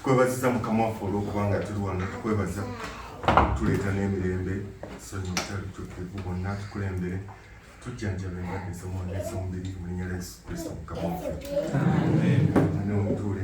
tukwebaziza mukama waffe olwokubanga tuli wano tukwebaza tuleeta n'emirembe sonyi obutalutukivu bonna tukulembere tujjanjaba endwadde z'omwoyo ez'omubiri mu linnya lya yesu kristo mukama waffe mwana omutuule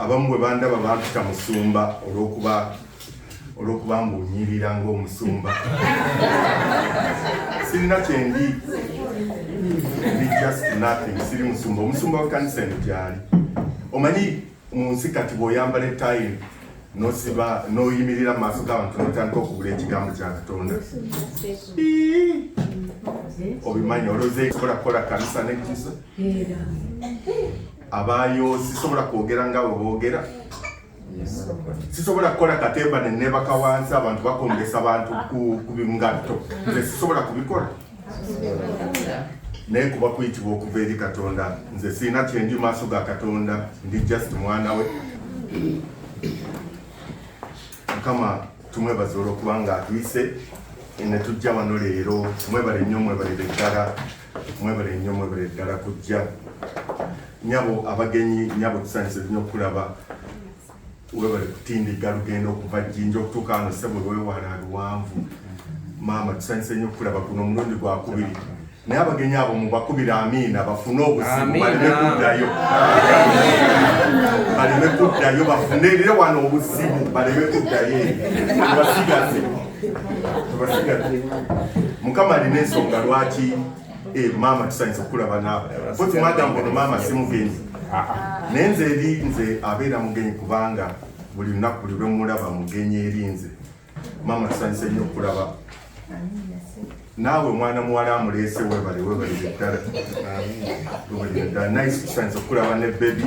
abamu bwe bandaba bampita musumba olwokuba olwokuba mbunyirira ngaomusumba sirina kyendi ndi just nothing siri musumba omusumba wekanisa eno gyali omanyi mu nsi kati bweoyambala etayi nosiba noyimirira mu maaso g'abantu notandika okugula ekigambo kya katonda obimanyi oloze sobola kukola kanisa nekisa abayo sisobola kwogera nga we boogera sisobola kukola katemba nenebaka wansi abantu bakombesa bantu ku bingatto nze sisobola kubikola naye kuba kuyitibwa okuva eri katonda nze sirina kyendi maaso ga katonda ndi just mwana we mukama tumwebaza olwokuba nga atuyise netujja wano leero mwebale nnyo mwebalire ddala mwebale nnyo mwebale ddala kujja nyabo abagenyi nyabo tusanyise nnyo okulaba webale kutindigga lugendo okuva jjinja okutuuka wano ssebo lwewala luwanvu maama tusanyuse nnyo okulaba guno omulundi gwakubiri naye abagenyi abo mubakubira amiina bafune obuzibu baleme kuddayo baleme kuddayo bafunelire wano obuzibu baleme kuddayo tubasigaze tubasigaze mukama alina ensonga lwaki Eh, maama tusanyusa okulaba naawe koti madam ono maama si mugenyi ah, ah. naye nze eri nze abeera mugenyi kubanga buli lunaku buli lwemulaba mugenyi eri nze maama tusanyusa ennyo okulaba naawe omwana muwala amuleese webale webalire ddala webalire ddala nice tusanyusa okulaba ne bebi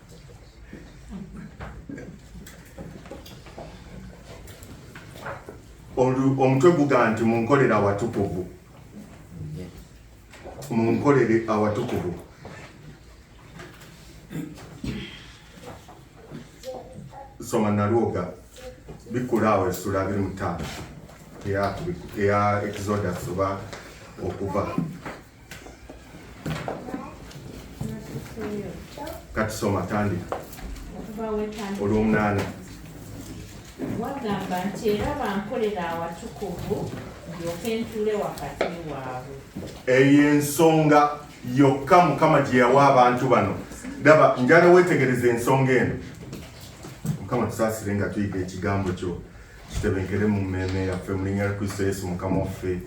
omutwe guga nti munkolere awatukuvu munkolere awatukuvu soma nalwoga bikula awo essula biri mutaano eya exodus oba okuva kati soma tandika olwomunaana wagamba nti era bankolera awatukuvu ndyoke ntuule wakati waabwe eyo ensonga yokka mukama gye yawa abantu bano daba njala wetegereza ensonga eno mukama tusaasire nga tuyiga ekigambo kyo kitebenkere mu mmeeme yaffe mu linnya lya kristo yesu mukama waffe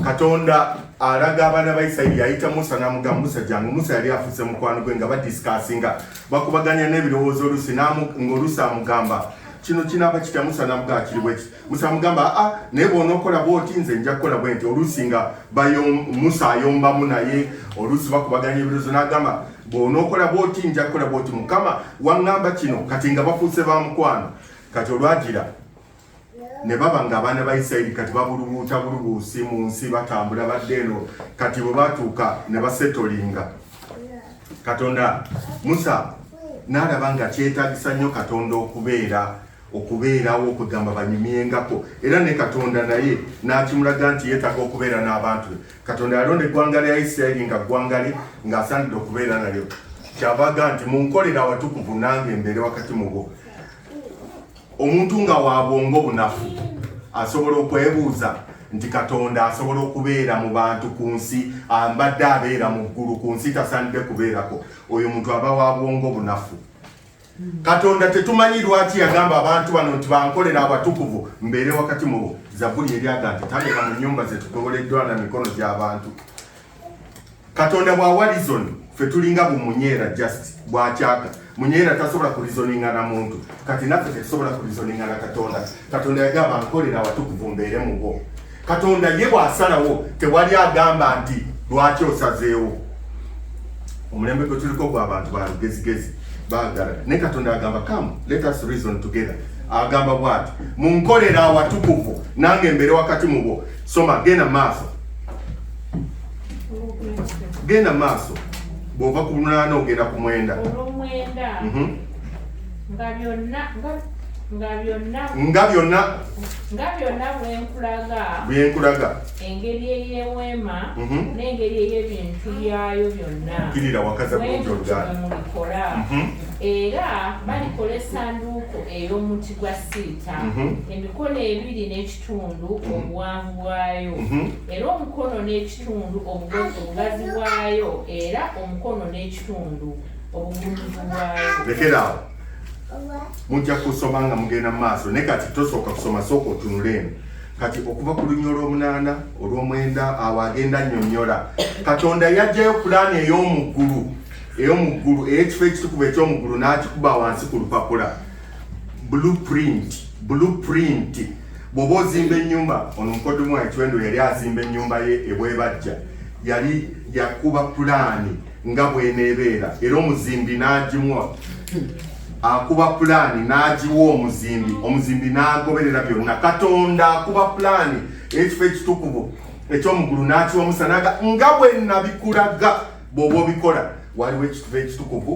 katonda alaga abaana ba isirairi yayita musa namugamba musa jangu musa yali afuse mukwano gwe nga badisikasinga bakubaganya n'ebirowoozo olusi ngaolusi amugamba kino kinaba kitya musa namugaa kiri bweki musa amugamba aa ah, ah, naye bwonaokola bwoti nze nja kukola bwenti olusi nga musa ayombamu naye olusi bakubaganya ebirowoozo nagamba bw'onookola bw'oti nja kukola bw'oti mukama waŋŋamba kino kati nga bafuuse ba mukwano kati olwagira ne baba ng'abaana ba isirayiri kati babulubuuta bulubuusi mu nsi batambula badde eno kati bwe batuuka ne basetolinga katonda musa n'alaba nga kyetagisa nnyo katonda okubeera okubeerawo okugamba banyumyengako era ne katonda naye n'akimulaga nti yeetaaga okubeera n'abantu be katonda yalonda eggwanga lya isirayiri nga ggwanga lye ng'asaanidde okubeera nalyo kyavaga nti munkolera awatukuvu nange embeere wakati mu bo omuntu nga wa bwongo bunafu asobola okwebuuza nti katonda asobola okubeera mu bantu ku nsi ambadde abeera mu ggulu ku nsi tasaanidde kubeerako oyo muntu aba wa bwongo bunafu katonda tetumanyi lwaki yagamba abantu bano nti bankolera abatukuvu mbeere wakati mubo zabuli eryaga nti tabeera mu nyumba zetugoboleddwa na mikono gy'abantu katonda bwa warizoni fe tulinga bumunyeera just bwakyaka munyeera tasobola kurizoninga na muntu kati naffe tetusobola kurizoninga na katonda katonda yagamba nkolera awatukuvu mbeere mu bo katonda ye bw'asalawo tewali agamba nti lwaki osazeewo omulembe gwe tuliko gwa bantu ba lugezigezi baagala naye katonda agamba come let us reason together agamba bwati munkolera awatukuvu nange mbere wakati mu bo soma genda maaso genda maaso bw'ova ku lunaana ogenda ku mwenda olw'omwenda mhm. nga byonna nga nga byonna nga byonna nga byonna bwenkulaga bwenkulaga engeri eyeweema mhm. n'engeri ey'ebintu byayo byonna kirira wakaza bulungiolgamukola mhm. era balikola esanduuko ey'omuti gwa siita mhm. emikono ebiri n'ekitundu obuwanvu bwayo era omukono n'ekitundu obugazi bwayo era omukono n'ekitundu lekeraawo mujja kusoma nga mugenda mu maaso naye kati tosooka kusoma sooka otunula eno kati okuva ku lunya olw'omunaana olw'omwenda awo agenda annyonnyola katonda yajjayo pulaani ey'omuggulu ey'omuggulu ey'ekifo ekitukuvu eky'omuggulu n'akikuba wansi ku lupapula blueprint blueprint bw'oba ozimba ennyumba ono mukodomu wa ekiwendo yali azimba ennyumba ye ebwebajja yali yakuba pulaani nga bweneebeera era omuzimbi n'agimuwa akuba pulaani n'agiwa omuzimbi omuzimbi n'agoberera byonna katonda akuba pulaani ekifo ekitukuvu ekyomugulu n'akiwa musa naga nga bwe nabikulaga bw'oba obikola waliwo ekitufu ekitukuvu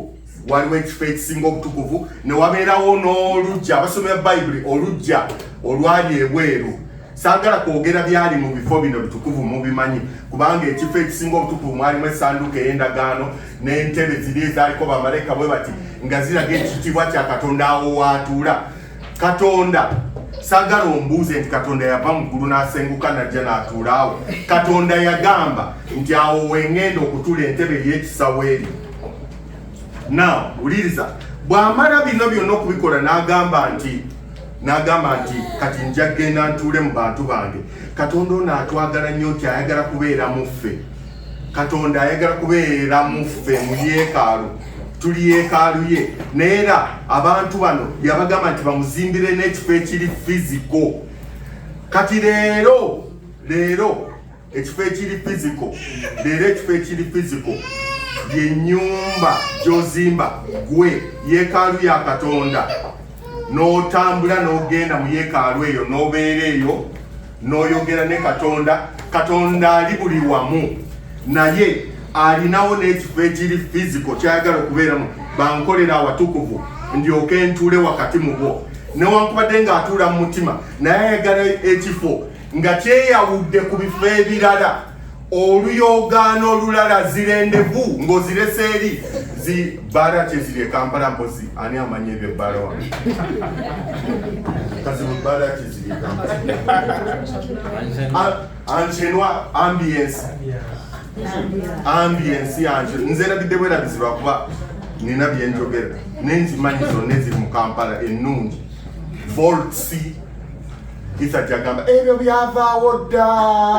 waliwo ekifo ekisinga obutukuvu ne wabeerawo n'oluggya abasomera bayibuli oluggya olwali ebweru saagala kwogera byali mu bifo bino bitukuvu mubimanyi kubanga ekifo ekisinga obutukuvu mwalimu esanduuko ey'endagaano n'entebe ziri ezaaliko bamalayika bwe bati nga ziraga ekitiibwa kya katonda awo waatuula katonda sagala ombuuze nti katonda yava mu ggulu n'asenguka najja n'atuula awo katonda yagamba nti awo wengenda okutula entebe ey'ekisawo eryo now wuliriza bw'amala bino byonna okubikola n'agamba nti n'agamba nti kati nja genda ntuule mu bantu bange katonda ono atwagala nnyo nti ayagala kubeera mu ffe katonda ayagala kubeera mu ffe mu yeekaalu tuli yeekaalu ye naye era abantu bano yabagamba nti bamuzimbire n'ekifo ekiri fiziko kati leero leero ekifo ekiri physical leero ekifo ekiri physical yenyumba gyozimba gwe yekaalu ya katonda n'otambula n'ogenda mu yekaalu eyo n'obeera eyo n'oyogera ne katonda katonda ali buli wamu naye alinawo n'ekifo ekiri fiziko kyayagala okubeeramu bankolera awatukuvu ndyoke ntuule wakati mu bwo newankubadde ng'atuula mu mutima naye ayagala ekifo nga kyeyawudde ku bifo ebirala oluyoogaano olulala zirendevu ng'ozirese eri zi bbaala kyeziri ekampala mpozi ani amanya ebyo ebbaala wa kazibu bbaala kyeziri anchenwa ambience ambience yanje nze erabidde bwerabizibwa kuba nina byenjogera nenzimanyi zonna eziri mu kampala ennungi voltsi Isa jagamba ebyo byavaawo dda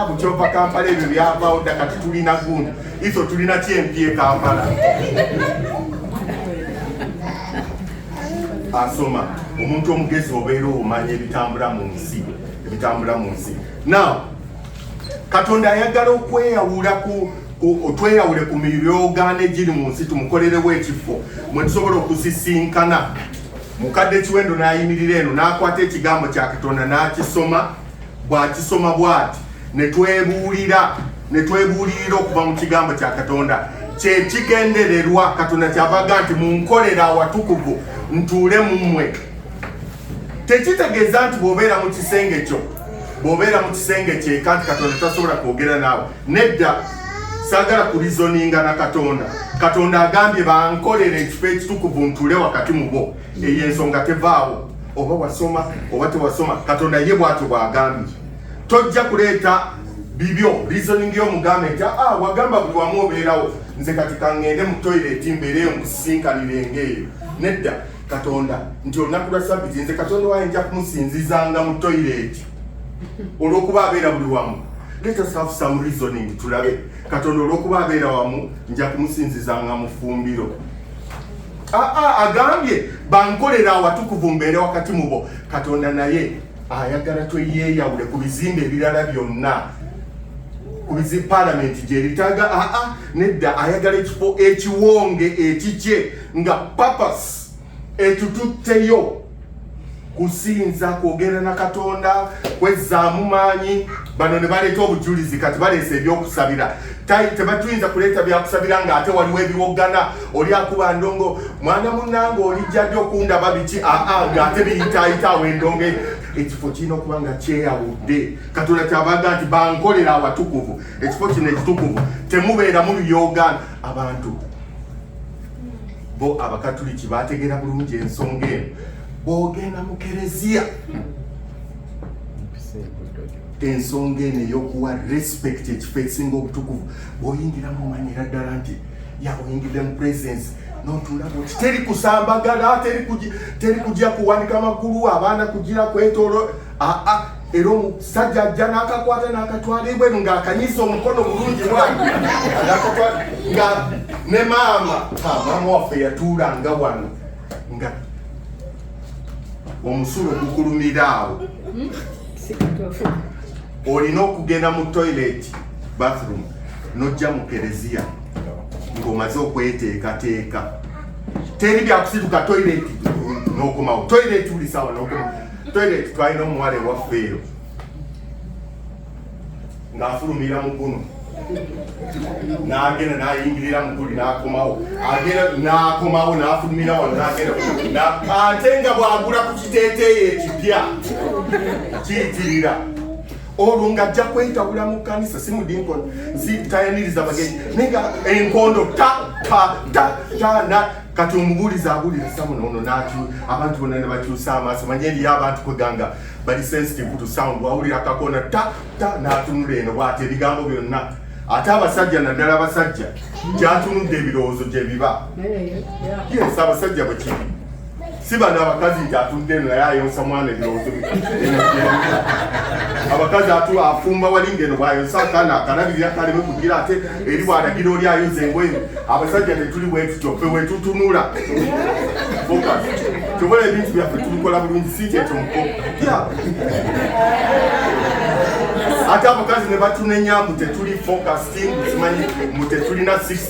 mukyova Kampala ebyo byavaawo dda kati tulina gundi iso tulina kyempi e Kampala asoma omuntu omugezi obeera omanya ebitambula mu nsi ebitambula mu nsi now katonda ayagala okweyawula ku otweyawule ku miryogaano egiri mu nsi tumukolerewo ekifo mwe tusobola okusisinkana Mukadde Kiwendo n'ayimirira eno n'akwata ekigambo kya Katonda n'akisoma bw'akisoma bw'ati ne twebuulira ne twebuulirira okuva mu kigambo kya Katonda kye kigendererwa Katonda kyavaga nti munkolera awatukuvu ntuule mu mmwe tekitegeeza nti bw'obeera mu kisenge kyo bw'obeera mu kisenge kyeka nti Katonda tasobola kwogera naawe Nedda, saagala kulizoninga na Katonda. Katonda agambye bankolera ekifo ekitukuvu ntuule wakati mu bo. Eyo ensonga tevaawo, oba wasoma oba tewasoma. Katonda ye bw'atyo bw'agambye. Tojja kuleeta bibyo reasoning yo mugambe nti ah wagamba buli wamu obeerawo nze kati kangende mu toilet mbeereyo nkusisinkanire ng'eyo nedda katonda nti olunaku lwa sabbiti nze katonda waye nja kumusinzizanga mu toilet olwokuba abeera buli wamu let us have some reasoning tulabe katonda olwokuba abeera wamu nja kumusinzizanga mufumbiro aa ah, ah, agambye bankolera awatukuvu mbeere wakati mubo katonda naye ayagala tweyeyawule ku bizimbe ebirala byonna ku bizi palamenti gyeritaga aa ah, nedda ayagala ekifo ekiwonge ekikye nga papas etututteyo kusinza kwogera na katonda kwezzaamu maanyi bano ne baleeta obujulizi kati baleesa ebyokusabira tebatuyinza kuleeta byakusabira nga ate waliwo ebiwoggana oli akuba ndongo mwana munange olijjadi okundaba biki aa nga ate biyitaayita awo endongo ekifo kirina okuba nga kyeyawudde katonda kyabaga nti bankolera awatukuvu ekifo kino ekitukuvu temubeeramu luyoogana abantu bo abakatuliki bategeera bulungi ensonga eno bwogenda mu kereziya ensonga eno eyokuwa respect ekifo ekisinga obutukuvu bwoyingiramu omanyira ddala nti yaoyingidde mu presence notulaba oti teri kusambagala teri kujja kuwanika magulu abaana kugira kwetolo aa era omusajja ajja n'akakwata n'akatwala ebweru ng'akanyiza omukono bulungi bwange nga ne maama maama waffe yatuulanga wano nga omusulo gukulumira awo olina okugenda mu toilet bathroom nojja mu kereziya ng'omaze okweteekateeka teri byakusituka toilet n'okomawo toilet buli sawa n'okomawo toilet twalina omuwala ewaffe eyo ng'afulumira mu guno n'agenda n'ayingirira mu guli n'akomawo agenda n'akomawo n'afulumira wano n'agenda ate nga bw'agula ku kiteeteeyi ekipya kiyitirira olwo ng'ajja kwetabula mu kkanisa si mudinkoni zitayaniriza bagenyi naye nga enkondo ta ta ta ta kati omubuulizi abuulira samuna ono naki abantu bona nebakyusa amaaso manye eriyo abantu kweganga bali sensitive to sound wawulira akakona ta ta natunula eno bwati ebigambo byonna ate abasajja naddala abasajja kyatunudde ebirowoozo gyebiba yes abasajja bwekiri si bano abakazi nti atudde eno naye ayonsa mwana ebirowoozo abakazi atu afumba wali ngeno bwayonsa akana akanabirira kaleme kugira ate eri bwalagira oli ayoza engoye abasajja tetuli bwetutyo fe wetutunula tobola ebintu byaffe tubikola bulungi si kyekyo muko ate abakazi ne batunenya mbu tetuli focusing simanyi mbu tetulina six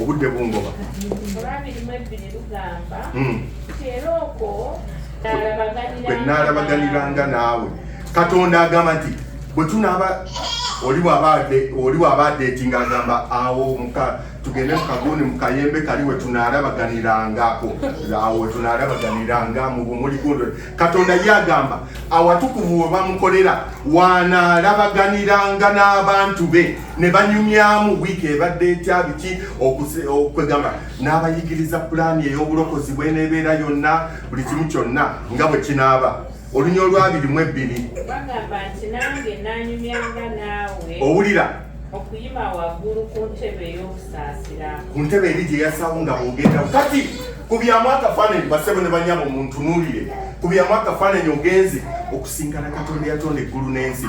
obudde bungoba olwamirimu ebbiri lugamba hmm. era okwo bwe nnaalabaganiranga naawe katonda agamba nti bwe tunaaba oli bw'aba adeetinga agamba awo tugende mu kagundi mu kayembe kali we tunaalabaganirangako awo we tunaalabaganiranga mu bumuli gundi katonda ye agamba awatukuvu we bamukolera wanaalabaganiranga n'abantu be ne banyumyamu wiiki ebadde etya biki okwegamba n'abayigiriza pulaani ey'obulokozi bweneebeera yonna buli kimu kyonna nga bwe kinaaba olunya olwabiri mu ebbiri owulira okuyima waggulu ku ntebe ey'okusaasira ku ntebe eri gye yasawo nga bwogenda kati kubyamu akafaananyi basebo ne banyama omuntunuulire kubyamu akafaananyi ogenze okusingana katonda yatonda eggulu n'ensi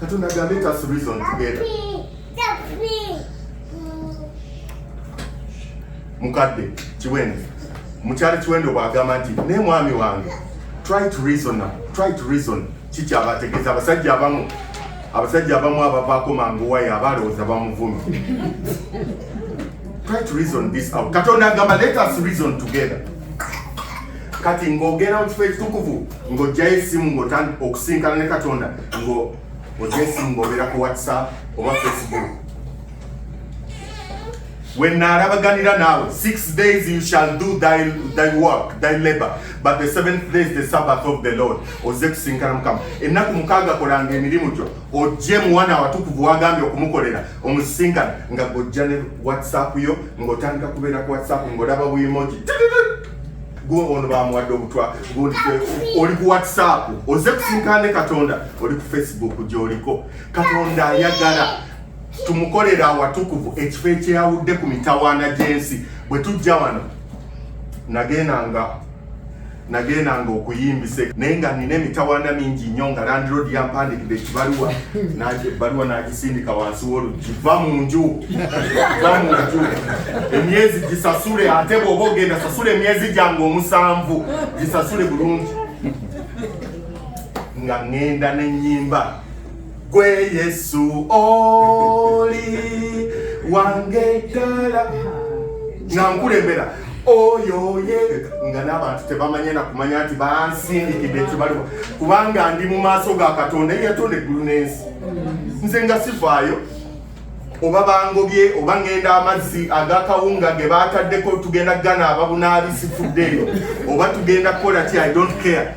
Katonda ga let us reason together. Mukadde Kiwendo, mukyala Kiwendo bw'agamba nti naye mwami wange try to reason, try to reason kiki abategeeza abasajja abamu abasajja abamu abavaako mangu wayo abalowooza bamuvumi try to reason this out katonda agamba let us reason together kati ng'ogenda mu kifo ekitukuvu ng'ojjayo essimu ng'otandika okusinkana ne katonda ngo ojesimba obeera ku whatsapp oba facebook wennaalabaganira naawe six days you shall do thy, thy work thy labor but the seventh day is the sabbath of the lord ozze kusinkana mukama ennaku mukaaga kolanga emirimu gyo ojje muwana watukuvu wagambye okumukolera omusisinkana nga gojja ne whatsapp yo ng'otandika kubeera ku whatsapp ng'olaba buimoji gwe ono bamuwadde obutwa oli ku whatsapp oze kusinkane katonda oli ku facebook gyoliko katonda ayagala tumukolera awatukuvu ekifo ekyeyawudde ku mitawaana gy'ensi bwe tujja wano nagendanga nagendanga okuyimbisa naye nga nina emitawaana mingi nnyo nga landiroodi yampandikidde ekibaluwa ebbaluwa sindika wansi w'oluggi va mu nju va mu nju emyezi gisasule ate bw'oba ogenda sasula emyezi gyange omusanvu gisasule bulungi nga ŋŋenda n'ennyimba gwe yesu oli wange ddala nga nkulembera oyo ye nga n'abantu tebamanye na kumanya nti bansindikidde ekibaliwa kubanga ndi mu maaso ga katonda eyatonda eggulu n'ensi nze nga sivaayo oba bangobye oba ngenda amazzi agakawunga ge bataddeko tugenda ganaaba bunaabisifuddeeyo oba tugenda kukola ki i don't care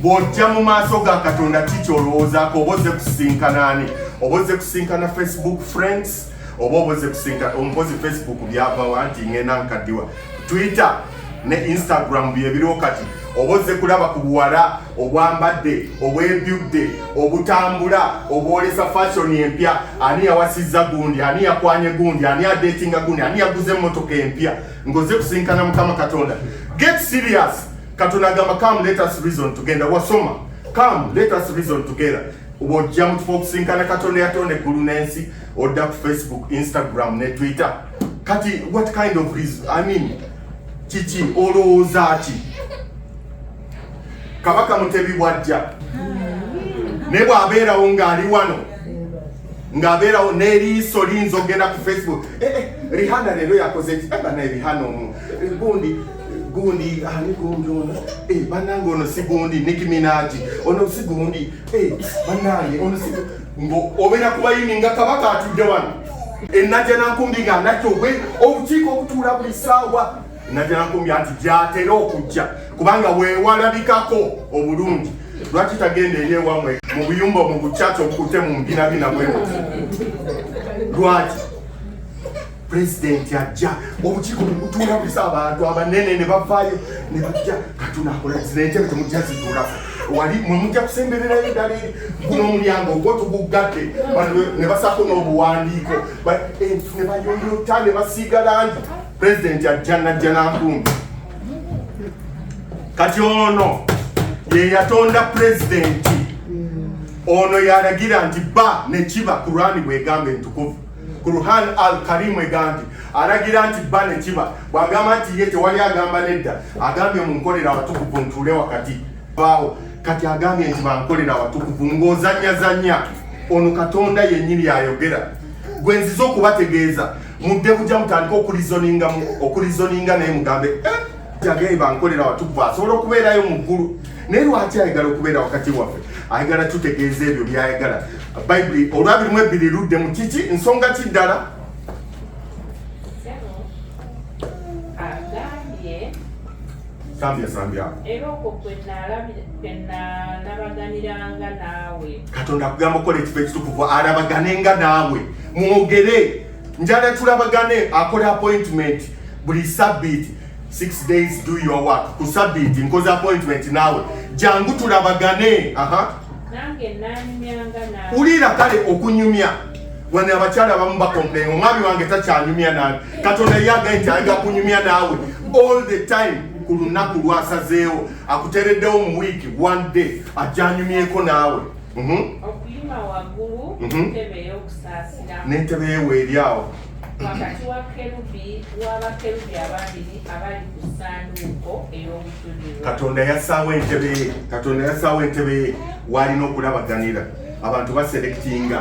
bw'ojja mu maaso ga katonda ki kyolowoozaako oba ozze kusinkanaani oba ozze kusinkana facebook friends oba oba ozze kusinkana omukozi facebook byavawa nti ngenda nkaddiwa twitter ne instagram byebiriwo kati oba ozze kulaba ku buwala obwambadde obwebyudde obutambula obwolesa fashion empya ani yawasizza gundi ani yakwanye gundi ani adetinga gundi ani yaguze emmotoka empya ngoze kusinkana mukama katonda get serious katonda agamba come let us reason tugenda wasoma come let us reason together wojja mukifo okusinkana katonda yatonda eggulu n'ensi odda ku facebook instagram ne twitter kati what kind of reason i mean kiki olowooza ki kabaka mutebi bwajja naye bwabeerawo ng'ali wano ng'abeerawo n'eriiso liyinza okugenda ku facebook eh, eh, rihana leero yakoze ki eh, banaye rihana omu gundi gundi ani gundi ono banange ono si gundi nikiminaji ono si gundi banange ono si ng'obeera kubayini nga kabaka atudde wano enajja nankumbi nga anajja obwe obukiiko obutuula buli saawa najankumbi anti gyatera okujja kubanga wewalabikako obulungi lwaki tagenda eri ewamwe mu buyumba mu bucaca okute mu mbinabina bwe lwaki pulezidenti ajja obukiiko bukutuula busa abantu abanene ne bavaayo ne bajja katunakola zinentebe temujja zituulako wali mwe mujja kusembererayo ddala eri guno omulyango ogwo tuguggadde ne basaako n'obuwandiiko eh, ne bayoyota ne basiiga langi pulezidenti ajja najja nankumbi kati ono ye yatonda pulezidenti ono yalagira nti ba nekiba kurani bwegamba entukuvu kuruhan al karimu egamba nti alagira nti ba nekiba bwagamba nti ye tewali agamba nedda agambye munkolera abatukuvu ntuule wakati baawo kati agambye nti bankolera abatukuvu ng'ozanyazanya ono katonda yennyini yayogera gwe nziza okubategeeza mudde bujja mutandika okulizoninga okulizoninga naye mugambe eh, jagaye bankolera watukuva asobola okubeerayo mu ggulu naye lwaki ayagala okubeera wakati waffe ayagala tutegeeza ebyo byayagala bayibuli olwabirimu ebbiri ludde mu kiki nsonga ki ddala sambya sambya era okwo kwe nalabaganiranga naawe katonda akugamba okukola ekifo ekitukuvu alabagane nga naawe mwogere njala tulabagane akola appointment buli sabbiiti six days do your work ku sabbiiti nkoze appointment naawe jangu tulabagane aha uliira kale okunyumya wani abakyala abamu bakomplain omwami wange takyanyumya nani katonda ye agaye nti ayinza kunyumya naawe all the time ku lunaku lwasazeewo akutereddewo mu wiiki one day ajanyumyeko naawe mhm. okuyima waggulu mhm. ntebe ey'okusaasira n'entebe yewe eri awo wakati wa kerubi w'abakerubi ababiri abali ku ssanduuko ey'obujulirwa katonda yassaawo entebe ye katonda yassaawo entebe ye waalina okulabaganira abantu baserekitinga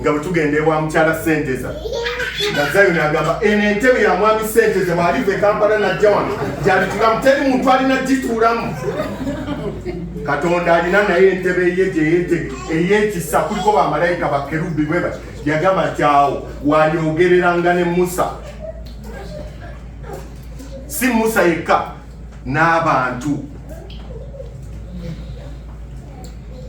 nga bwe tugenda ewa mukyala senteza nga zayoni agamba eno entebe ya mwami senteza bwaliva ekampala najja wano gyalitulamu teri muntu alina gituulamu katonda alina naye entebe ye gyeyete eyekisa kuliko bamalayika bakerubi bwe bati yagamba nti awo walyogereranga ne musa si musa yekka n'abantu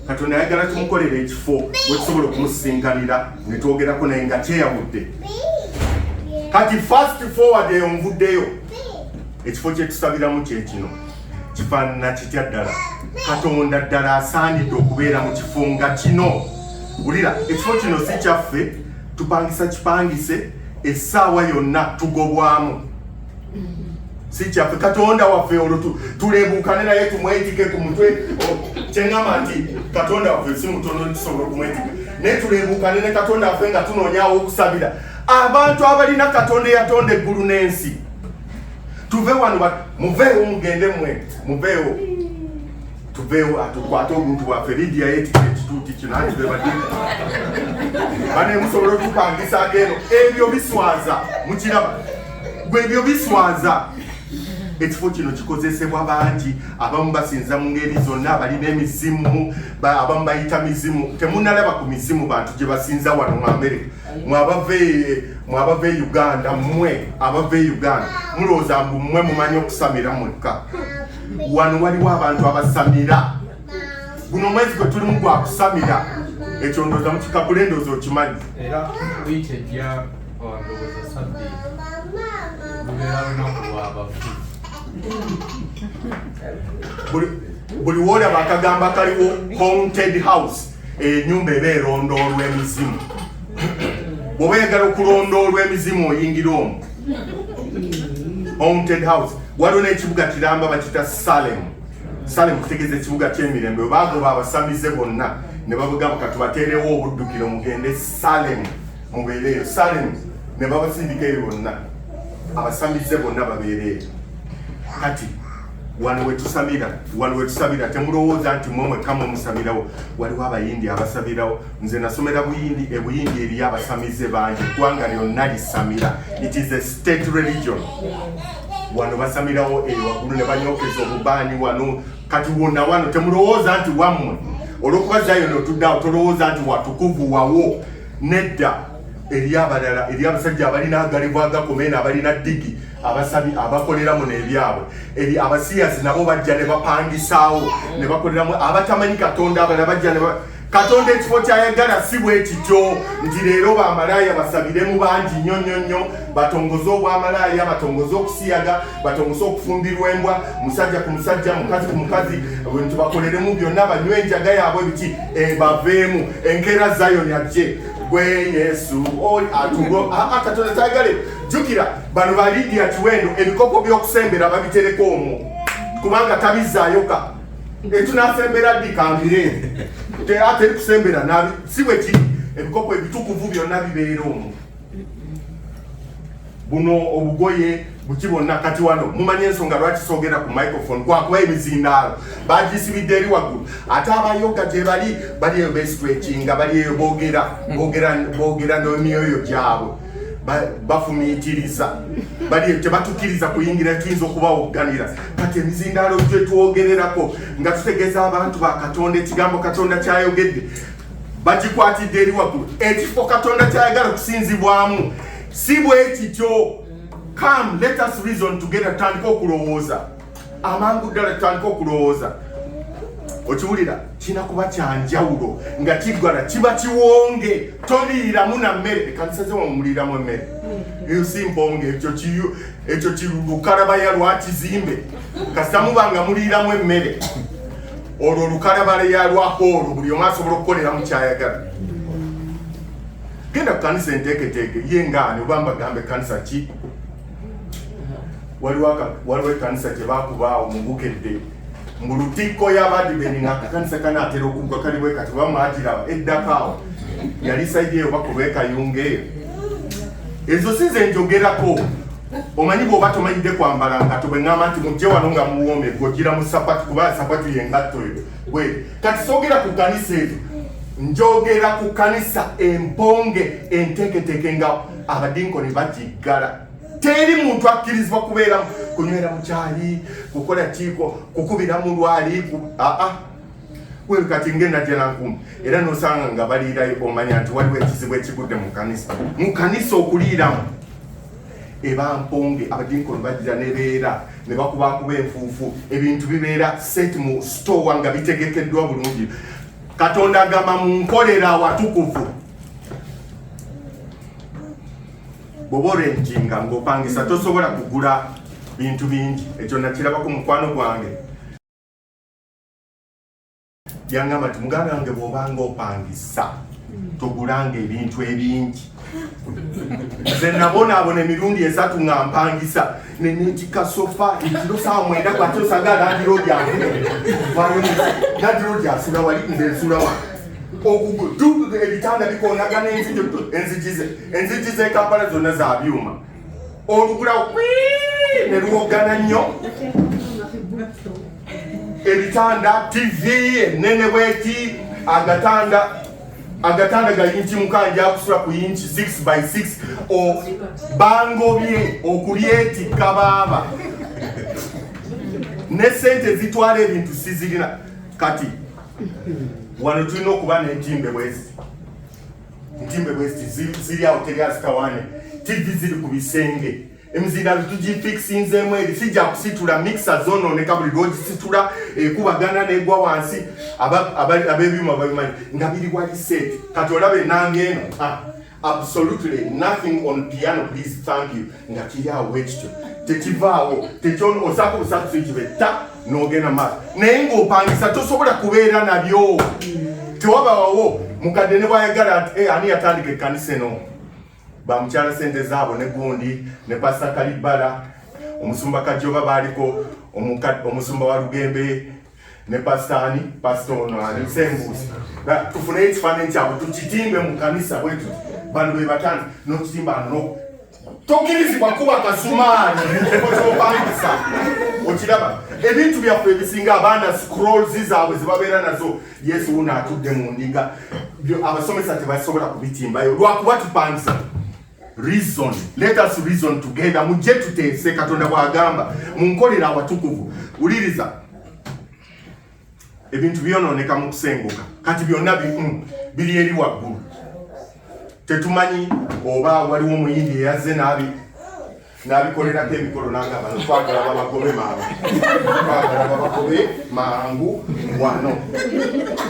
katonda ayagala tumukolera ekifo wetusobola okumusisinkanira netwogerako naye nga kyeyawudde kati fast forward eyo nvuddeyo ekifo kyetusabiramu kyekino kifaanana kitya ddala katonda ddala asaanidde okubeera mu kifo nga kino wulira ekifo kino si kyaffe tupangisa kipangise essaawa yonna tugobwamu si kyaffe katonda waffe olwo tulebuukane naye tumwetike ku mutwe kyeŋama nti katonda waffe si mutono tusobola okumwetika naye tulebuukane ne katonda waffe nga tunoonyawo okusabira abantu abalina katonda eyatonda eggulu n'ensi tuve wano muveewo mugende mwe muveewo tuveewo atukwate obuntu bwaffe lidia yetika ekituuti kino anti bebadi banemusobola otupangisako eno ebyo biswaza mukiraba gwe ebyo biswaza ekifo kino kikozesebwa bangi abamu basinza mu ngeri zonna balina emizimu abamu bayita mizimu temunalaba ku mizimu bantu gye basinza wano mu amerika mwabava e uganda mmwe abava e uganda mulowooza mbu mmwe mumanyi okusamira mwekka wano waliwo abantu abasamira guno omwezi gwe tulimu gwakusamira ekyo ndooza mukikagula endooza okimanyi Ndowooza sabbi lubeera lunaku lwabafu buli woolaba akagamba kaliwo haunted house enyumba eba erondoolwa emizimu bwoba oyagala okulondoolwa emizimu oyingira omu haunted house waliwo n'ekibuga kiramba bakita salemu salemu kutegeeza ekibuga ky'emirembe baagoba abasamize bonna ne babugamba katubateerewo obuddukiro mugende salemu mubeereeyo salemu ne babasindika eyo bonna abasamize bonna babeereeyo kati wano wetusamira wano wetusabira temulowooza nti mwe mwekka mwe musabirawo waliwo abayindi abasabirawo nze nasomera buyindi ebuyindi eriyo abasamize bangi eggwanga lyonna lisamira it is a state religion wano basamirawo eyo waggulu ne banyokeza obubaani wano kati wonna wano temulowooza nti wammwe olwokuba zayoni otuddeawo tolowooza nti watukuvu wawo nedda eri abalala eri abasajja abalina agalivu agakoma eno abalina digi abasabi abakolera muno ebyabwe eri abasiyazi nabo bajja ne bapangisaawo ne bakoleramu abatamanyi katonda abala bajja ne katonda ekifo kyayagala si bwe kityo nti leero bamalaaya basabiremu bangi nnyo nnyo nnyo batongoze obwamalaaya batongoze okusiyaga batongoze okufumbirwa embwa musajja ku musajja mukazi ku mukazi nti bakoleremu byonna banywe enjaga yaabwe biki ebaveemu enkeera zayoni ajje gwe yesu atugo katonda tayagale jjukira bano ba lidia kiwendo ebikopo by'okusembera babitereka omwo kubanga tabizaayoka etunasembera ddi kambire teri kusembera si bwe kiri ebikopo ebitukuvu byonna bibeera omwo buno obugoye buki bonna kati wano mumanyi ensonga lwaki soogera ku microphone kwakuba emizindaalo bagisibidde eri waggulu ate abayoga gye bali bali eyo besitwekinga bali eyo boogera boogera n'emyoyo gyabwe bafumiitiriza bali eyo tebatukiriza kuyingira tuyinza okubawogganira kati emizindaalo gye twogererako nga tutegeeza abantu ba katonda ekigambo katonda kyayogedde bagikwatidde eri waggulu ekifo katonda kyayagala okusinzibwamu si bwe kityo come let us reason together tutandika okulowooza amangu ddala tutandika okulowooza okiwulira kirina kuba kyanjawulo nga kiggala kiba kiwonge toliiramu na mmere ekanisa ze wamumuliiramu emmere eyo si mponge ekyo kiyo ekyo kilukalabaya lwakizimbe kasita muba nga muliiramu emmere olwo olukalabale ya lwa hoolo buli omu asobola okukolera mu kyayagala genda ku kanisa enteeketeeke ye ngaani oba mbagamba ekkanisa ki waliwo ekanisa gyebakubaawo mubukedde mu lutikko yabadibeni ngaakakanisa kano atera okuggwa kaliwekati bamwagiraba eddakaawo yali saidi eyo bakuba ekayunga eyo ezo si zenjogerako omanyi bwoba tomanyidde kwambala ngatto bwe ŋŋamba nti mujje wano nga muwoome gojjira mu sapatu kuba sapatu yengatto eyo bwe kati soogera ku kanisa ezo njogera ku kanisa emponge enteeketeeke nga abadinkoni bagiggala teri muntu akkirizibwa kubeera kunywera mukyali kukola kiiko kukubira mu lwali aa wewe kati ngenda jela nkumu era nosanga nga baliirayo omanya nti waliwo ekizibu ekigudde mu kanisa mu kanisa okuliiramu eba mponge abadinkoni bajira nebeera ne bakubakuba enfuufu ebintu bibeera set mu stowa nga bitegekeddwa bulungi katonda agamba mu nkolera awatukuvu bwoba orentinga ngaopangisa tosobola kugula bintu bingi ekyo nakirabako mukwano gwange yangamba nti muganda wange bwobanga opangisa hmm. togulanga ebintu ebingi nze nabonaabona emirundi esatu nga mpangisa nenetika sofa ekiro saa mwenda kwati osanga landirodyasula wali nze nsula wa ebitanda bikonagana enzigi zekampala zonna za byuma olugulawo ne luwoggana nnyo ebitanda tv enene bweti agatanda agatanda ga yinki mukanja akusula ku yinki 6 by 6 bangobye okulyetikka baaba ne sente ezitwala ebintu sizirina kati wano tulina okuba n'entimbe bwezi Ntimbe West ziri awo teri azitawane TV ziri ku bisenge emizindaalo tugifikisinzeemu eri sijja kusitula mikisa zonooneka buli lwogisitula ekubagana eh, negwa wansi abebyuma babimanyi nga biri wali set kati olaba enanga eno ah, absolutely nothing on piano please thank you nga kiri awo wekityo tekivaawo tekyono osaka obusatu sikibe ta nogenda maaso naye ng'opangisa tosobola kubeera nabyo tewabawawo mukadde ne bwayagala eh, ani yatandika ekkanisa eno bamukyala sente zaabo ne gundi ne pasa kalibala omusumba kajoba baaliko omusumba wa lugembe ne pasita ani pasita ono ani sembuusi tufuneyo ekifaananyi kyabwe tukitimbe mu kanisa bwetuti bano be batandika n'okitimba no tokkirizibwa kuba kasumaali mukifo kyopangisa okiraba ebintu byaffe ebisinga abaana scrolls zaabwe zibabeera nazo yesu wuno atudde mu ndiga abasomesa tebasobola kubitimbayo lwakuba tupangisa reason let us reason together mujje tuteese katonda bwagamba munkolera awatukuvu wuliriza ebintu byonooneka mu kusenguka kati byonna bimu biri eri waggulu tetumanyi oba waliwo omuyindi eyazze naabi nabikolerako emikolo nagamba twagala babagobe mangu twagala babagobe mangu wano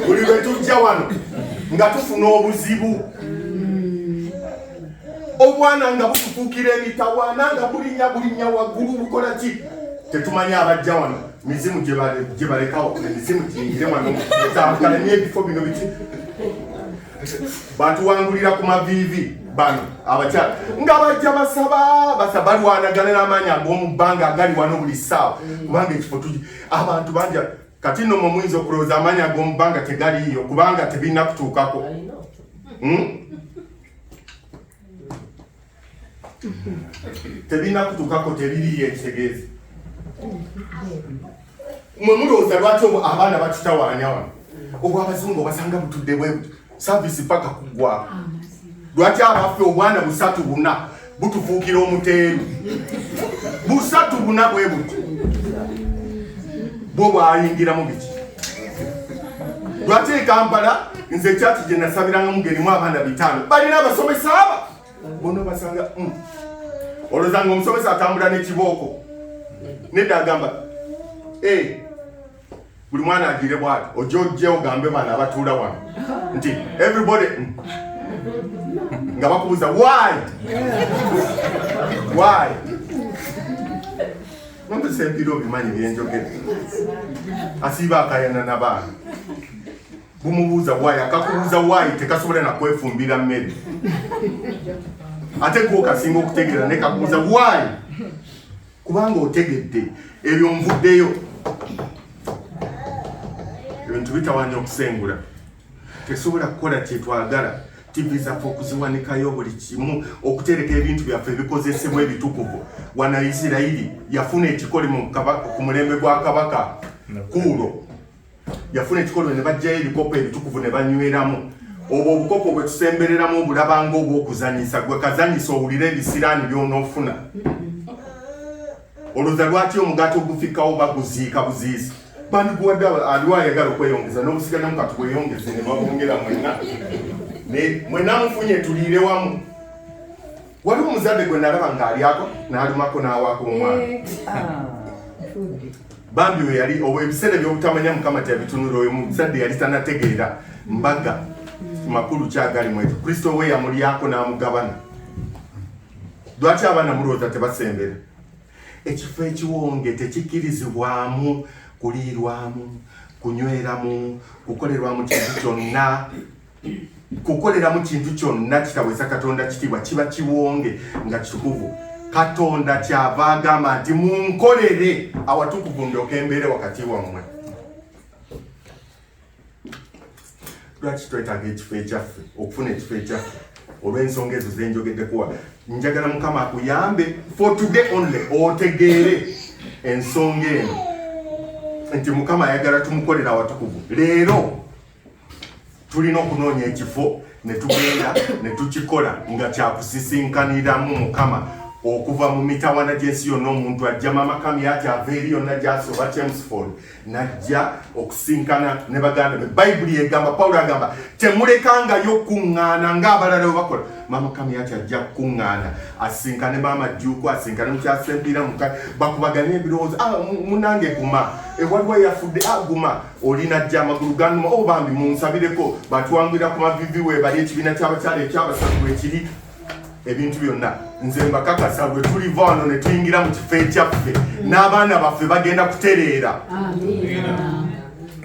buli lwe tujja wano nga tufuna obuzibu obwana nga butufuukira emitawaana nga bulinya bulinya waggulu bukola ki tetumanyi abajja wano mizimu gyebalekawo emizimu giyingire wano etambukale n'ebifo bino biki batuwangulira ku maviivi bano abakyala nga bajja basaba basa balwanagana n'amaanyi ag'omubbanga agali wano buli ssaawa kubanga ekifo tugi abantu banja kati nno mwe muyinza okulowooza amaanyi ag'omubbanga tegaliiyo kubanga tebirina kutuukako hmm? tebirina kutukako tebiriyo ekitegeeza mwe mulowooza lwaki obwo abaana batutawaanya wano obwo abazungu obasanga butudde bwe saavisi paka kuggwako lwaki abaffe obwana busatu buna butufuukira omuteeru busatu buna bwe buti bwo bwayingiramu biki lwaki ekampala nze ekyaki gye nasabiranga mugerimu abaana bitaano balina abasomesa aba bono basanga mm. olozanga omusomesa atambula nekibooko nedda agamba eh, buli mwana agire bwati oja ojje ogambe bana abatuula wano nti everybody mm. nga bakubuza why why nompesa empira obimanyi byenjogere asiiba akayana nabaana bumubuuza waayi akakubuuza waayi tekasobola nakwefumbira mmere ate gwe okasinga okutegeera naye kakubuuza waayi kubanga otegedde ebyo nvuddeyo ebintu bitawanya okusengula tesobola kukola kyetwagala tivi zaffe okuziwanikayo buli kimu okutereka ebintu byaffe ebikozesebwa ebitukuvu wana isirairi yafuna ekikolimo ku mulembe gwa kabaka kuulo yafuna ekikolo ne bajjayo ebikopo ebitukuvu ne banyweramu obwo obukopo bwe tusembereramu obulaba nga obw'okuzanyisa gwe kazanyisa owulire ebisiraani by'onoofuna olwoza lwaki omugaati ogufikkawo baguziika buziisa bandiguwadde aliwo ayagala okweyongeza n'obusigademu kati bweyongeze ne babongera mwena mwena mufunye tuliire wamu waliwo omuzadde gwe nalaba ng'alyako n'alumako n'awaako omwana eh, ah, bambi we yali ebiseera ebyobutamanya mukama teyabitunula oyo muzadde yali tanategeera mbaga hmm. makulu kyagali mwetu kristo we yamulyako n'amugabana lwaki abaana mulowooza tebasembera ekifo ekiwonge tekikkirizibwamu kuliirwamu kunyweramu kukolerwamu kintu kyonna kukoleramu kintu kyonna kitawesa katonda kitiibwa kiba kiwonge nga kitukuvu katonda kyava agamba nti munkolere awatukuvu ndyoka embeere wakati wammwe lwaki twetaaga ekifo ekyaffe okufuna ekifo ekyaffe olw'ensonga ezo zenjogeddekuwa njagala mukama akuyambe for today only otegeere ensonga eno nti mukama ayagala tumukolera awatukuvu leero tulina okunoonya ekifo ne tugenda ne tukikola nga kyakusisinkaniramu mukama okuva mu mitawana gy'ensi yonna omuntu ajja mamakami yati ava eri yonna gyasi oba chemsford najja okusinkana ne baganda be bayibuli egamba pawulo agamba temulekangayo okukuŋŋaana ng'abalala we bakola mamakami yati ajja kukuŋŋaana asinkane maama jjuuku asinkane mukyasempiira muka bakubaganye ebirowoozo ah, munange guma ewaliwo yafudde aguma ah, olina jja amagulu ganuma o oh, bambi munsabireko batwangwira ku mavivi webali ekibiina kyabakyala ekyabasatu bwekiri ebintu byonna nze mbakakasa bwe tuliva wano ne tuyingira mu kifo ekyaffe n'abaana baffe bagenda kutereera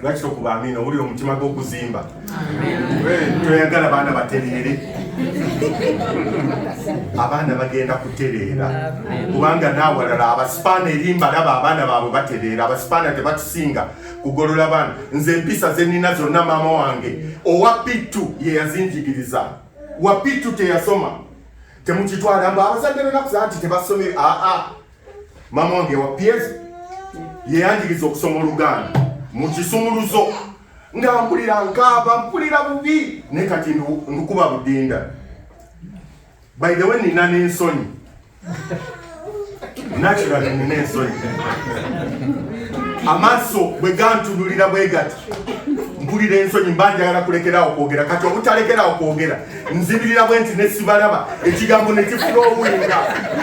lwaki tokuba amiina owulira omutima gw'okuzimba toyagala baana batereere abaana bagenda kutereera kubanga naawalala abasipaana erimbalaba abaana baabwe batereera abasipaana tebatusinga kugolola baana nze empisa zenina zonna maama wange owa pittu yeyazinjigiriza wa pittu teyasoma temukitwala mba abazadde benakusaa nti tebasomere aa maama wange wa pies yeyanjiriza okusoma oluganda mu kisumuluzo nga mpulira nkaaba mpulira bubi ne kati ndukuba budinda By the way nina n'ensonyi naturally nina ensonyi amaaso bwe gantunulira bwe gati mpulira ensonyi mba njagala kulekerawo kwogera kati obutalekerawo kwogera nzibirira bwe nti nesibalaba ekigambo nekifulowinga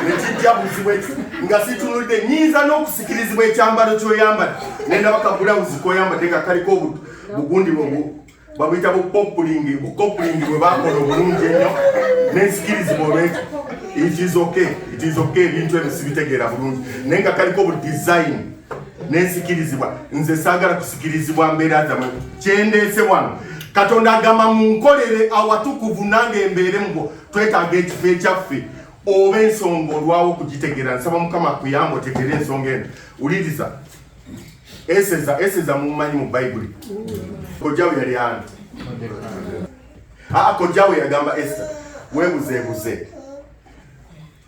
nekijja buzibu ekyo nga situnudde nyinza n'okusikirizibwa ekyambalo kyoyambala nendaba kabulawuzi koyambadde nga kaliko bugundi bwobu babuyita bukopulingi bukopulingi bwe bakola obulungi ennyo n'ensikirizibwa olwekyo it is okay it is okay ebintu ebyo sibitegeera bulungi naye nga kaliko bu design nensikirizibwa nze saagala kusikirizibwa mbeera zamwe kyendeese wano katonda agamba munkolere awatukuvu nange mbeere mubo twetaaga ekifo ekyaffe oba ensonga olwawo okugitegeera nsaba mukama akuyamba otegeere ensonga eno wuliriza Eseza, eseza mumanyi mu Bayibuli. Kojjawe yali ani? Ah, kojjawe yagamba Esa, webuzeebuze.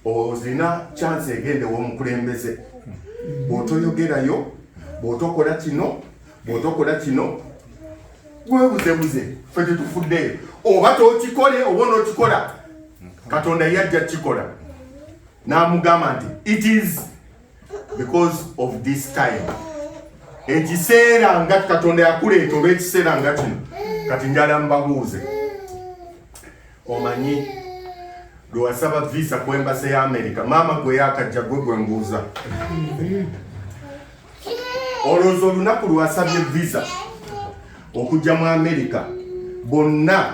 Ozina chance egende w'omukulembeze. Bw'otoyogerayo, bw'otokola kino, bw'otokola kino, webuzeebuze, ffe tetufuddeyo. Oba tokikole, oba onokikola. Katonda yajja kukikola. N'amugamba nti, it is because of this time ekiseera nga katonda yakuleeta oba ekiseera nga kino kati njala mbabuuze omanyi lwewasaba visa ku embase ya amerika maama gwe yakajja gwe gwe mbuuza olowooza olunaku lwasabye visa okujja mu amerika bonna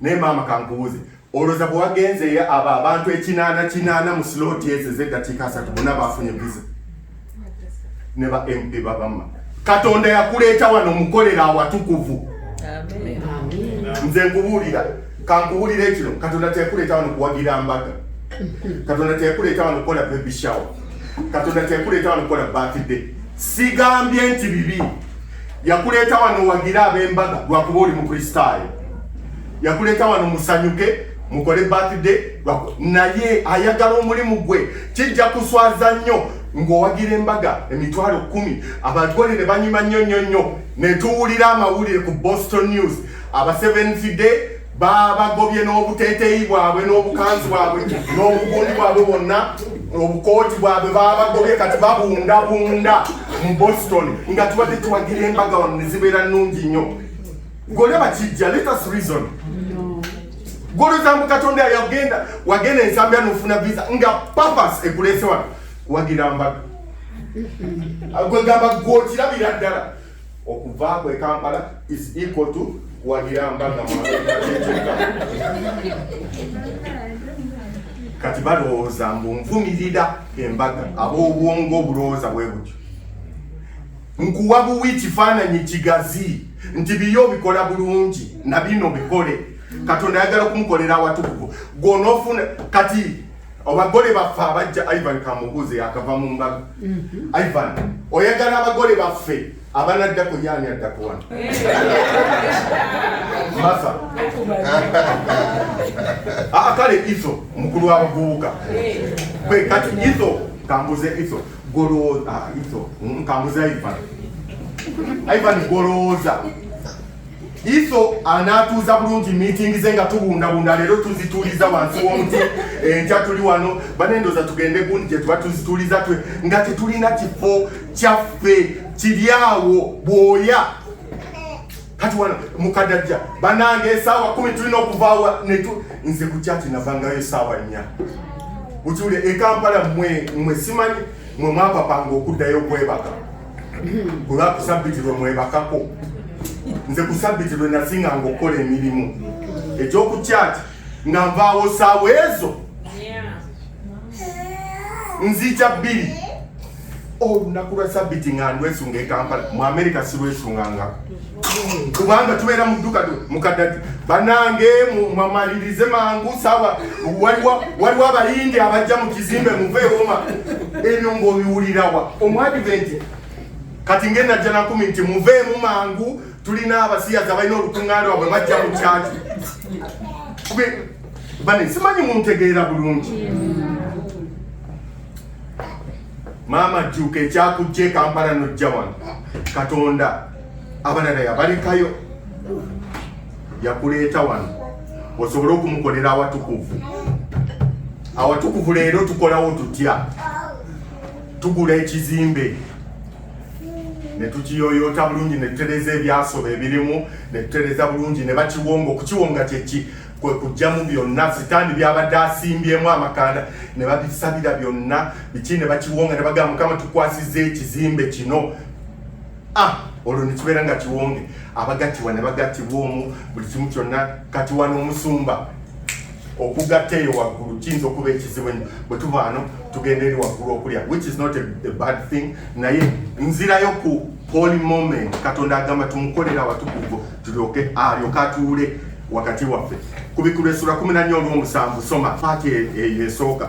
naye maama kankubuuze olwoza bwe wagenzeeyo abo abantu ekinaana kinaana mu sloti ezo ezeddakiika asatu bona bafunye visa ne ba mp babamma katonda yakuleeta wano omukolera awatukuvu nze nkubuulira kankubuulira ekino katonda teyakuleeta wano kuwagira mbaga katonda teyakuleeta wano kukola baby shower katonda teyakuleeta wano kukola birthday sigambye nti bibi yakuleeta wano owagire ab'embaga lwakuba oli mukristaayo yakuleeta wano musanyuke mukole birthday naye ayagala omulimu gwe kijja kuswaza nnyo ng'owagira embaga emitwalo kumi abagole ne banyuma nnyo nnyo nnyo ne tuwulira amawulire ku boston news abaseventh day baabagobye n'obuteeteeyi bwabwe n'obukanzi bwabwe n'obugundi bwabwe bwonna obukooti bwabwe baabagobye kati babundabunda mu boston nga tubadde tuwagira embaga wano ne zibeera nnungi nnyo golaba kijja letus reason golozamu katonda yagenda wagenda ensambya nofuna visa nga papas ekulese wano wagira mbaga gwegamba gwokirabira ddala okuva kwe Kampala is equal to kuwagira mbaga kati balowooza mbu nvumirira embaga ab'obwongo obulowooza bwe butyo nkuwa buwi kifaananyi kigazi nti biyo obikola bulungi na bino bikole katonda ayagala okumukolera awatukuvu gwonoofuna kati Abagole baffe abajja Ivan Kamubuze akava mu mbaga. Mhm. Ivan, oyagala abagole baffe abanadda ku yaani adda ku wano. Masa. Ah, kale iso mukulu wa bubuka. Kwe kati iso kambuze iso golo ah iso mm, kambuze Ivan. Ivan goloza. Iso anaatuuza bulungi miitingi ze nga tubundabunda leero tuzituuliza wansi w'omuti enkya tuli wano banendoza tugende gundi gye tuba tuzituuliza twe nga tetulina kifo kyaffe kiri awo bwoya kati wano mukadajja banange esaawa kumi tulina okuvaawa netu nze ku kyati navangayo esaawa nnya ukiwulire ekampala mwe mwe simanyi mwe mwapapanga okuddayo okwebaka kulwa kusabiti lwe mwebakako nze kusabiti lwe nasinga nga okukola emirimu ekyokukyaki nga nvaawo saawa ezo nzija bbiri olunaku lwa sabiti nga ndwesunga ekampala mu amerika silwesungangako kubanga tubeera mu dduka mukadadi banange mwamalirize mangu sawa waliwo abayindi abajja mu kizimbe muveewoma ebyo ngaobiwulirawa omwadiventi kati ngenajja nakumi nti muveemu mangu tulina abasiyaza balina olukuŋŋaana wabwe bajja mu kyaki bane simanyi muntegeera bulungi maama jjuuka ekyakujja ekampala nojja wano katonda abalala yabalekayo yakuleeta wano osobole okumukolera awatukuvu awatukuvu leero tukolawo tutya tugula ekizimbe netukiyoyota bulungi netutereza ebyasoba ebirimu netutereza bulungi nebakiwonga okukiwonga kyeki kwekujjamu byonna sitaani byabadde asimbyemu amakanda nebabisabira byonna biki nebakiwonga nebagamba mukama tukwasiza ekizimbe kino ah olwo nekibeera nga kiwonge abagattibwa ne bagattibwa omu buli kimu kyonna kati wano omusumba okugatta eyo waggulu kiyinza okuba ekizibu ennyo bwe tubaano tugenda eri waggulu okulya which is not a, a bad thing naye nzirayo ku holy moment katonda agamba tumukolera watukuvu tulyoke alyoke atuule wakati waffe ku bikulu esula kumi nannya olw'omusanvu soma paati eyo esooka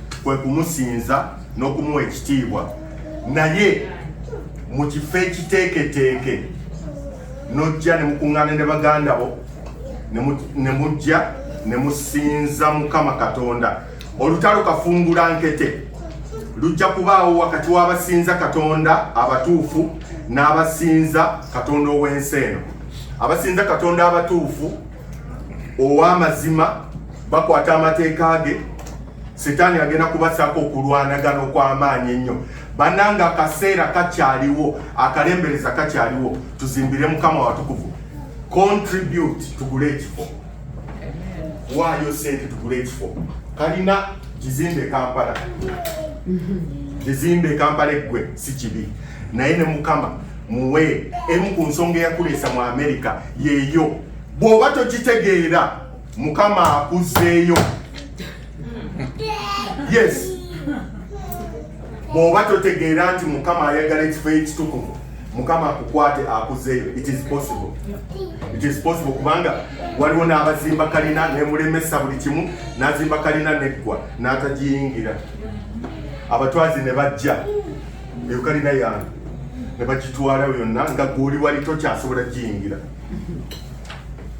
kwe kumusinza n'okumuwa ekitiibwa naye mu kifo ekiteeketeeke n'ojja ne mukuŋŋaana ne baganda bo ne mujja ne musinza mukama katonda olutalo kafungula nkete lujja kubaawo wakati w'abasinza katonda abatuufu n'abasinza katonda ow'ensi eno abasinza katonda abatuufu ow'amazima bakwata amateeka ge sitaani agenda kubasako okulwanagana okw'amaanyi ennyo bananga akaseera kakyaliwo akalembereza kakyaliwo tuzimbire mukama watukuvu contribute tugule ekifo waayo sente tugule ekifo kalina kizimbe kampala kizimbe kampala eggwe si kibi naye ne mukama muwe emu ku nsonga eyakuleesa mu amerika yeeyo bw'oba tokitegeera mukama akuzzeeyo yes bw'oba totegeera nti mukama ayagala ekifo ekitukuvu mukama akukwate akuzeeyo it is possible it is possible kubanga waliwo n'abazimba kalina nemulemesa buli kimu n'azimba kalina neggwa n'atagiyingira abatwazi ne bajja eyo kalina yange ne bagitwala yonna nga gwoli wali tokyasobola giyingira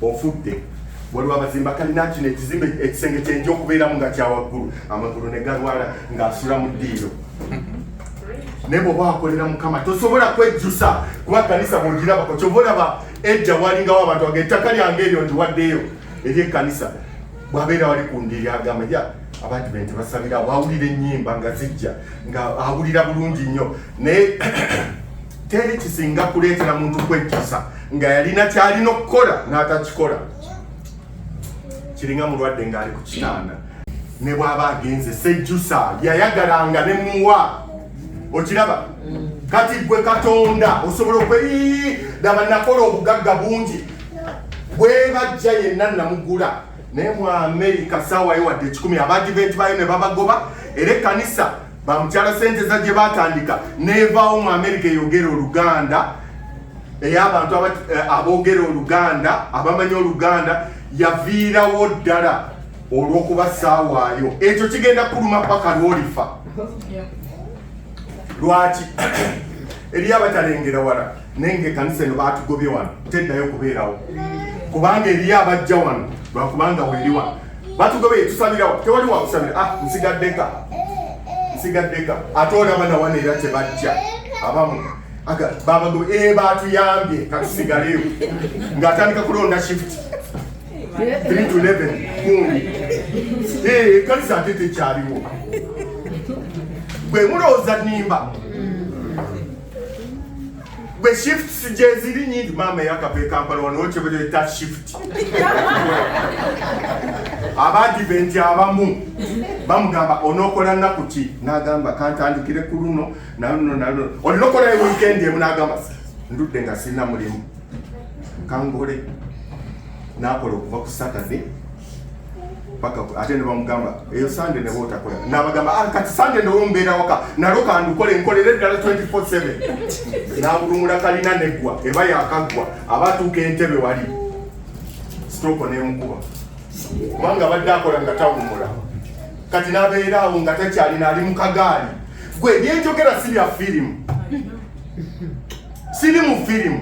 ofudde waliwo abazimba kalina kino ekizimbe ekisenge kyenja okubeeramu nga kyawaggulu amagulu ne galwala ng'asula mu ddiiro naye bwoba wakolera mukama tosobola kwejjusa kuba kanisa bwogirabako kyova olaba ejja walingawo abantu aga ettaka lyange eryo ndiwaddeyo eri ekkanisa bwabeera wali ku ndiri agamba ya abantu be nti basabira wawulira ennyimba nga zijja nga awulira bulungi nnyo naye teri kisinga kuleetera muntu kwejjusa nga yalina kyalina okukola n'atakikola kiringa mulwadde ng'ali ku kitanda ne bw'aba agenze sejjusa yayagalanga ne muwa okiraba mm. kati gwe katonda osobola okwe daba nakola obugagga bungi bwebajja yenna namugula naye mu amerika sawayo wadde ekikumi abadiventi bayo ne babagoba era ekkanisa bamukyala sente za gye batandika nevaawo mu amerika eyogera oluganda ey'abantu eh, aboogera oluganda abamanyi oluganda yaviirawo ddala olw'okuba saawaayo ekyo kigenda kuluma paka lwolifa lwaki eriyo abatalengera wala naye ngaekanisa eno batugobye wano teddayo kubeerawo kubanga eriyo abajja wano lwakubanga weeri wano batugobye tusabirawo tewali wakusabira ah nsigaddeka nsigaddeka ate olaba nawana era tebajja abamu babago ebatuyambye eh, katusigaleyo ngaatandika kulonda shift 3 to 11 kundi eh, ekanisa ate tekyaliwo bwe mulowooza nimba gwe shifts gyeziri nyingi maama eyakava ekampala wanokyebeta shift abadiventi abamu bamugamba onokola nnaku ki nagamba kantandikire ku luno naluno naluno olina okola ewikendi emu nagamba ndudde nga sirina mulimu kangole nakola okuva ku saturday paka ate ne bamugamba eyo sande ne botakola nabagamba ah, kati sande ne wombeera waka nalo kandukole nkolera eddala 24/7 nabulumula kalina neggwa eba yakaggwa abatuuka entebe wali sitooko nemukuba kubanga abadde akola nga tawumula kati nabeera awo nga takyalina ali mu kagaali gwe byenjogera si bya firimu siri mu firimu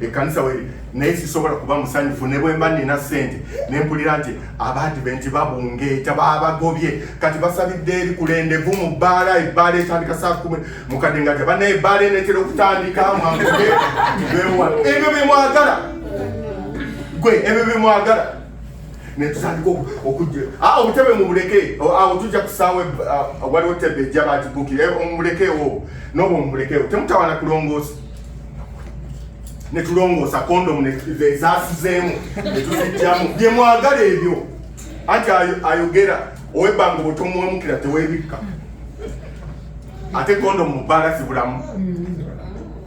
ekkanisa weri naye sisobola kuba musanyufu ne bwemba nina ssente ne mpulira nti abaadiventi babungeeta babagobye kati basabidde ebikulendevu mu bbaala ebbaala etandika saa kumi mukadde nga te bana ebbaala enetera okutandika mwanguge ebyo byemwagala gwe ebyo byemwagala netutandika okujja ah, obutebe mubuleke awo tujja kusaawa ah, waliwo tebe ejja bagibukira eh, mumulekewo nobo mumulekewo temutawana kulongoosa ne tulongoosa kondomu ezaasizeemu ne tuzijjamu bye mwagala ebyo anti ayogera owebbanga obutomuwemukira tewebikka ate kondomu mu bbaala zibulamu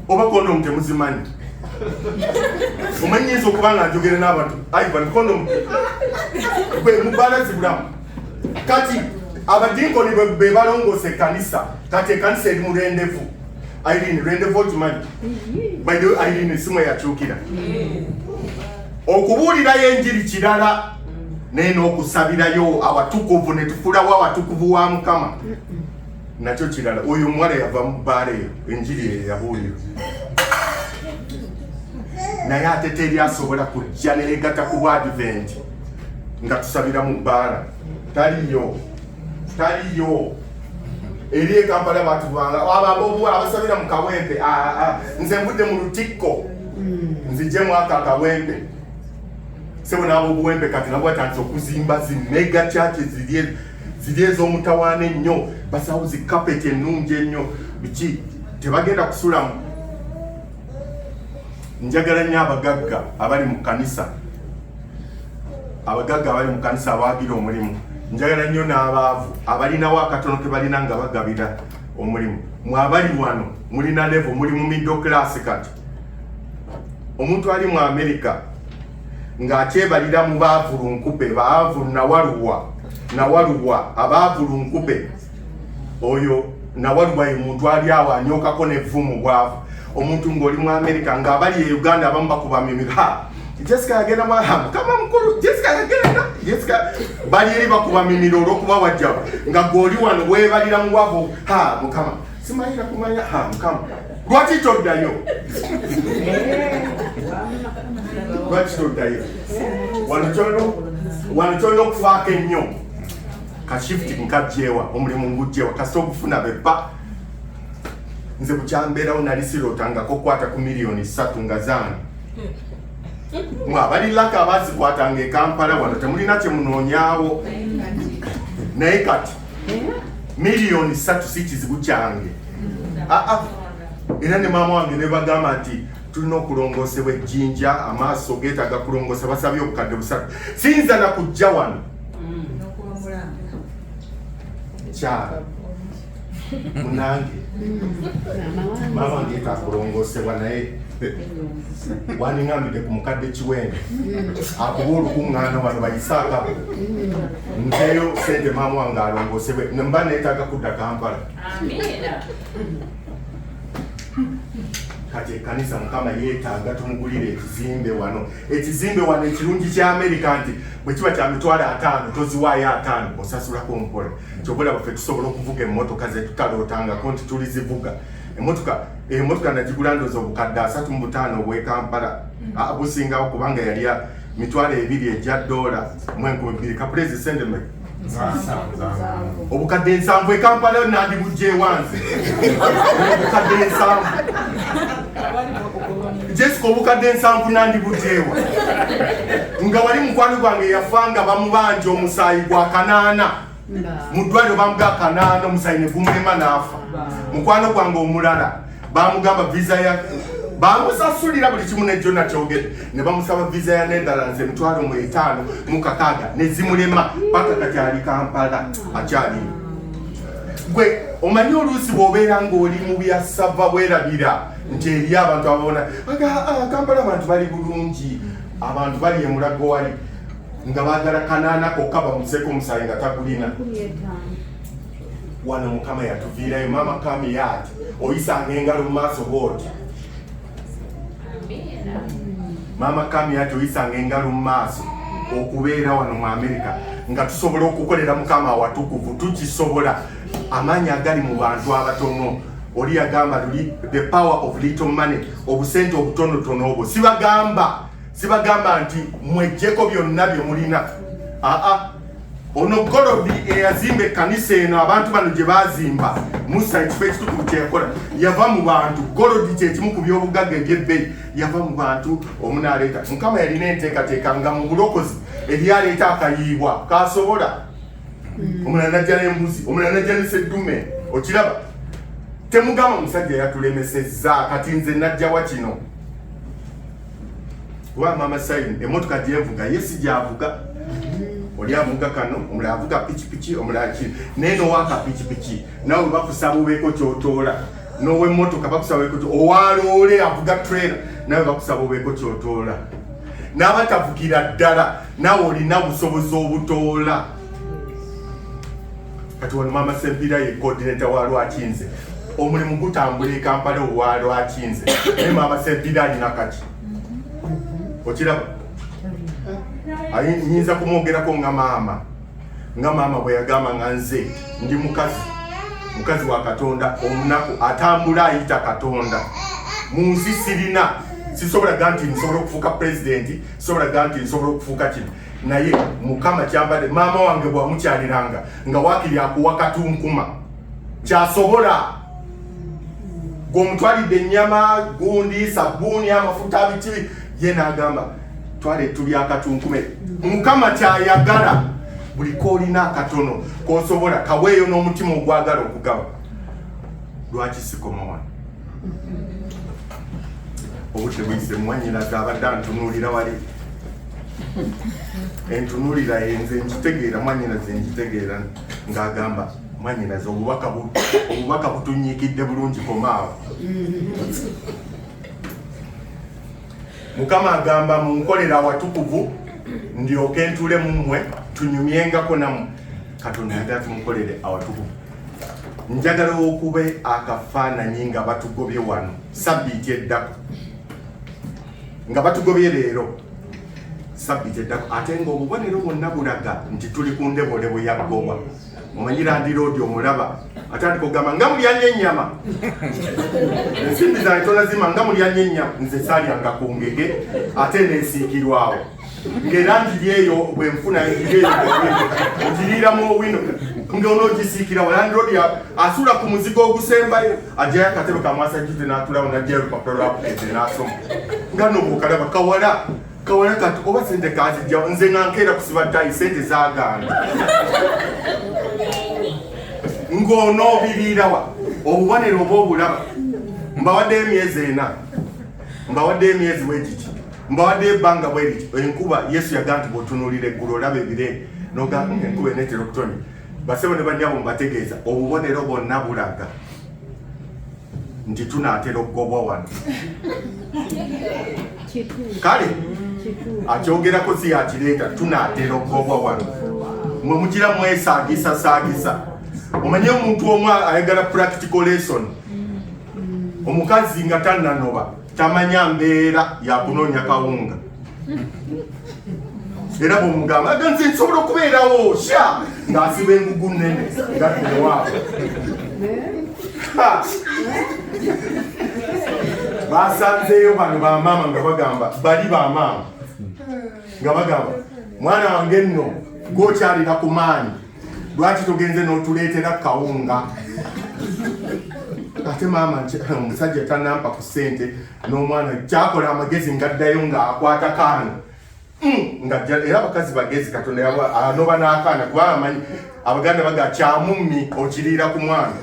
oba kondomu temuzimanyi omanyiinza okuba nga njogere n'abantu ivan kondomu gwe mu bbaala zibulamu kati abadinkoni be balongoosa ekanisa kati ekanisa eri mulendevu Irene rende vote money. By the way Irene simu yakyukira. Okubuulira yenjiri kirala naye n'okusabirayo awatukuvu ne tufulawo awatukuvu wa Mukama. Nakyo kirala oyo omuwala yava mu bbaala eyo enjiri eyo yabuulira. Naye ate teri asobola kujja neyegatta ku bwadiventi nga tusabira mu bbaala. Taliyo. Taliyo. eri ekampala batubanga ababobuwa abasabira mu kawempe ah, ah, nze mbudde mu lutikko hmm. nzije mwaka akawempe sebo nabobuwempe kati nabo batandise okuzimba zi mega churches ziri ziri ez'omutawaana ennyo basawo zi kapeti ennungi ennyo biki tebagenda kusulamu njagala nnyo abagagga abali mu kanisa abagagga abali mu kanisa abawagira omulimu njagala nnyo n'abaavu abalinawo akatono ke balina nga bagabira omulimu mwabali wano mulina levo muli mu middle class kati omuntu ali mu amerika ng'akyebalira mu baavulunkube baavulu nawaluwa nawaluwa abaavulunkube oyo nawaliwa ye muntu ali awo anyokako nevumu bwavu omuntu ngaoli mu america nga abali e uganda abamu bakubamimira ha jessica yagenda mwaha mukama mukulu jessica yagenda jessica bali eri bakubamimira olwokuba wajjaba nga gweoli wano webalira muwavu ha mukama simayira kumanya ha mukama lwaki toddayo lwaki toddayo wano kyolina okufaako ennyo ka shift nkajjewa omulimu ngujjewa kasita okufuna bepa nze kukyambeerawo nali sirootangako okukwata ku miliyoni satu nga zange mwe abali laka abazikwatanga ekampala wano temulina kyemunoonyawo naye kati miliyoni satu si kizibu kyange ah, ah. era ne maama wange nebagamba nti tulina okulongoosebwa ejjinja amaaso geetaga kulongoosa basabye obukadde busatu siyinza na kujja wano kyala munange maama wange takulongosebwa naye waningambidde ku mukadde kiwembe akuba olukuŋŋaana wano bayisaakabo nzeyo sente maama wange alongosebwe mba neetaaga kudda kampala kati ekanisa mukama yeetaaga tumugulire ekizimbe wano ekizimbe wano ekirungi kya amerika nti bwe kiba kya mitwalo ataano toziwaayo ataano osasulako mpola kyobola baffe tusobola okuvuga emmotoka zetutalootangako nti tuli zivuga emotoka emotoka nagigula ndozi obukadde asatu mu butaano obwekampala mm. ah, busingawo kubanga yali mitwalo ebiri egya doola mu enkumi bbiri kapulezi sendeme obukadde ensanvu ekampala yo nandibujjewanze obukadde ensanvu jesika obukadde ensanvu nandibujjewa nga wali mukwano gwange yafa nga bamubanja omusaayi gwa kanaana mu ddwaliro bamuga kanaana omusaayi ne gumulema n'afa mukwano gwange omulala bamugamba visa ya bamusasulira buli kimu ne jona kyogere ne bamusaba visa ya netherlands emitwalo mu etaano mu kakaaga ne zimulema paka kati ali kampala akyali gwe omanyi oluusi bwobeera ng'oli mu bya sava bwerabira nti eri abantu ababona ah, kampala abantu bali bulungi abantu bali emulago wali nga bagala kanaana kokka bamuseko omusayi nga tagulina wano mukama yatuviirayo maama kamiyati oyisanga engalo mu maaso bwoti maama kamiyati oyisanga engalo mu maaso okubeera wano mu amerika nga tusobola okukolera mukama awatukuvu tukisobola amaanyi agali mu bantu abatono oli yagamba luli the power of little money obusente obutonotono obwo sibagamba sibagamba nti mwejjeko byonna bye mulina aa ono golobi eyazimba ekkanisa eno abantu bano gye baazimba musa ekifo ekitukuvu kyeyakola yava mu bantu golobi kyekimu ku byobugagga ebyebbeyi yava mu bantu omunaaleeta mukama yalina enteekateeka nga mu bulokozi ebyaleeta akayiibwa kasobola mm. omulala najja n'embuzi omulala najja neseddume okiraba temugamba omusajja yatulemesezza kati nze najjawa kino Wa mama sign emotoka gyenvuga ye sijavuga oli avuga kano omulala avuga pikipiki omulala ki naye nowaka pikipiki nawe bakusaba obeeko kyotoola nowemotoka bakusaba obeeko owaloole avuga trailer nawe bakusaba obeeko kyotoola n'abatavukira ddala nawe olina busobozi obutoola kati wano maama sempira ye coordinator wa lwakinze omulimu gutambula ekampala owa lwakinze naye maama sempira alina kaki okiraba nyinza kumwogerako nga maama nga maama bwe yagamba nga nze ndi mukazi mukazi wa katonda omunaku atambula ayita katonda mu nsi sirina sisobola ga nti nsobola okufuuka pulezidenti sisobola ga nti nsobola okufuuka kino naye mukama kyambade maama wange bwamukyaliranga nga wakiri akuwa katunkuma kyasobola gwomutwalidde ennyama gundi sabbuuni amafuta biki ye nagamba twale tuli akatunkume mukama kyayagala buli koolina akatono kosobola kaweeyo n'omutima ogwagala okugaba lwaki sikoma wano obudde buyise mumwanyiraga abadde antunuulira wali entunulira yenze nkitegeera mwanyinaze nkitegeera ng'agamba mwanyinaze obubaka butunyikidde bulungi komaawo mukama agamba munkolera awatukuvu ndyoke ntule mu mmwe tunyumyengako namu katonda yagala tumukolere awatukuvu njagala okube akafaananyi nga batugobye wano sabbiiti eddako nga batugobye leero sabbiti eddako ate ng'obubonero bwonna bulaga nti tuli ku ndeboolebo ya gowa omanyi landiroodi omulaba atandika okugamba nga mulyanya ennyama ensimbi zange tolazima nga mulyanya ennyama nze salyanga ku ngege ate nesiikirwawo ng'era njiri eyo bwe nfuna njiri eyo njiriiramu owino ng'onoogisiikira walandiroodi asuula ku muzigo ogusembayo ajjayo akatebe kamwasajjuze n'atulawo n'ajjayo olupapula lwakukeete n'asoma nga nobuukalaba kawala kawala kati oba sente kazijja nze nga nkeera kusiba ttayi sente zagaana ng'onoobiriirawa obubonero oba obulaba mbawaddeyo emyezi ena mbawaddeyo emyezi wegiti mbawadde ebbanga bwe lityo enkuba yesu yaga nti bwotunuulira eggulu olaba ebire nogamba nga enkuba eneetera okutonya basebo ne bannyabo mubategeeza obubonero bonna bulaga nti tunaatera okugobwa wano kale akyogerako si yakireeta tunaatera okugobwa wano mwe mugira mwesaagisasaagisa omanye omuntu omu ayagala practical lesson mm. omukazi nga tannanoba tamanya mbeera yakunoonya kawunga era bwomugamba aga nze nsobola okubeerawo sha ng'asiba engugu nnene ngaewaabo basanzeeyo bano bamaama nga bagamba bali bamaama nga bagamba mwana wange nno gwokyalira ku maanyi lwaki togenze n'otuleetera kawunga ate maama omusajja tanampa ku ssente n'omwana kyakola amagezi ngaddayo ng'akwata kaana hmm, nga era abakazi bagezi katonda yanoba ah, n'akaana kuba amanyi abaganda baga kyamummi okiriira ku mwana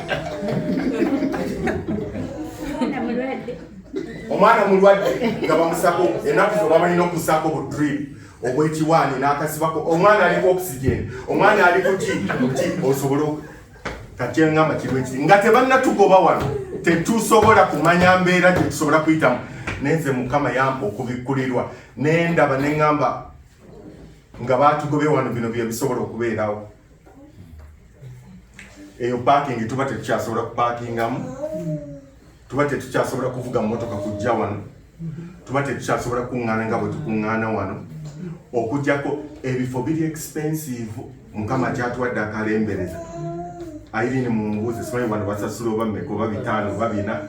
omwana mulwadde nga bamusako enaku zobamanyi n'okusaako bu dripu obwekiwaani n'akasibako omwana aliko oxygen omwana ali kuki ki osobole kakyengamba kiru ekiri nga tebannatugoba wano tetusobola kumanya mbeera gyetusobola kuyitamu nenze mukama yampa okubikkulirwa nendaba neŋamba nga batugobe wano bino byebisobola okubeerawo eyo pakingi tuba tetukyasobola kupakingamu tuba tetukyasobola kuvuga mmotoka kujja wano tuba tetukyasobola kukuŋŋaana nga bwe tukuŋŋaana wano okujjako ebifo biri expensive mukama kyatuwadde akalembereza ayirini mumubuuze simanyi wano basasula oba mmeka oba bitaano oba bina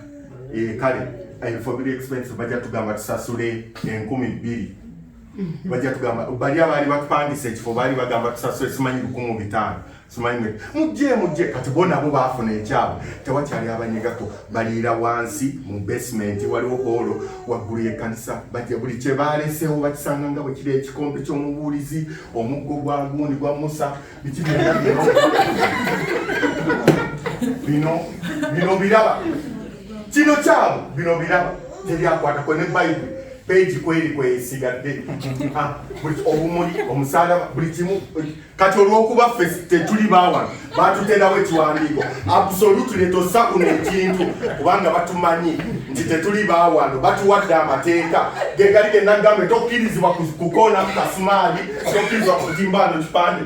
eh, kale ebifo biri expensive bajja tugamba tusasule enkumi bbiri bajja tugamba bali abaali batupangisa ekifo baali bagamba tusasule simanyi lukumi bitaano Simanyi mujje mujje kati bona abo baafuna ekyabo tewakyali abanyegako baliira wansi mu basement waliwo holo waggulu y'ekkanisa bajja buli kye baaleseewo bakisanga nga bwe kiri ekikompe ky'omubuulizi omuggo gwa gundi gwa musa biki byonna bino bino biraba kino kyabo bino biraba teryakwatako ne bayibuli peegi kweri kwesigadde ah, obumuli omusalaba buli kimu kati olwokuba ffe tetuli bawano batuterawo ekiwandiiko absolutely tossa kuno ekintu kubanga batumanyi nti tetuli bawano batuwadde amateeka gegali genagambe tokkirizibwa kukoona ku kasumaali tokkirizibwa kutimbaano kipande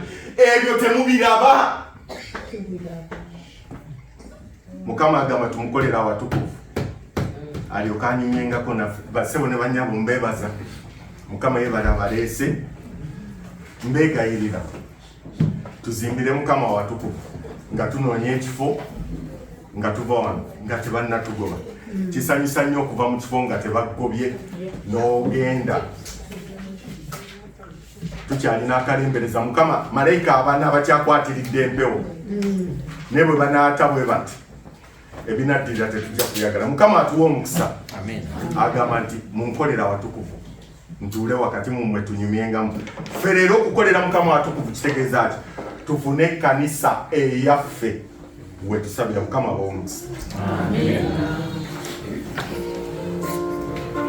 ebyo temubiraba mukama agamba tumukolera awatukuvu alyoke anyumyengako naffe basebo ne banyabo mbebaza mukama yebale abaleese mbegayirira tuzimbire mukama awatukuvu nga tunoonya ekifo nga tuva wano nga tebannatugoba kisanyusa nnyo okuva mu kifo nga tebakugobye n'ogenda tukyalina akalembereza mukama malayika abana abakyakwatiridde empewo naye bwe banaata bwe bati ebinaddirira tetujja kuyagala mukama atuwa omukisa agamba nti munkolera watukuvu ntuule wakati mumwe tunyumyengamu fe leero okukolera mukama watukuvu kitegeeza ki tufune ekkanisa eyaffe wetusabira mukama bawomukisa